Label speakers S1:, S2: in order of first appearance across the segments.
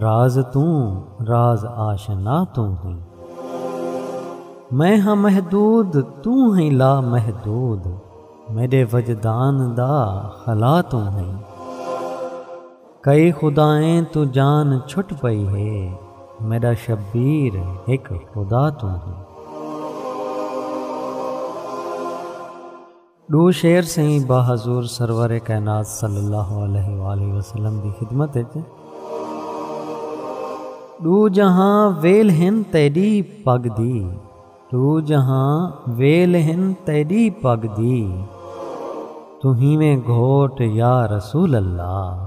S1: راز توں راز آشنا توں ہیں میں ہاں محدود توں ہیں لا محدود میڈے وجدان دا خلا توں ہیں کئی خدائیں توں جان چھٹ پئی ہے میڈا شبیر ہک خدا توں ہیں۔ ݙو شعر سئیں با حضور سرور کائنات صلی اللہ علیہ وآلہ وسلم دی خدمت اچ۔ ݙو جہاں ویل ہن تیݙی پڳ دی۔ ݙو جہاں ویل ہن تیݙی پڳ دی۔ توں ہیویں گھوٹ یا رسول اللہ۔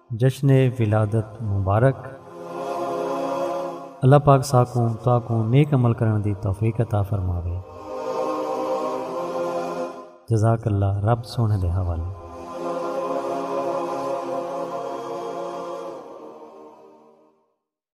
S1: جشن ولادت مبارک اللہ پاک ساکوں تاکوں نیک عمل کرن دی توفیق عطا فرماوے جزاک اللہ رب سونے دے حوالے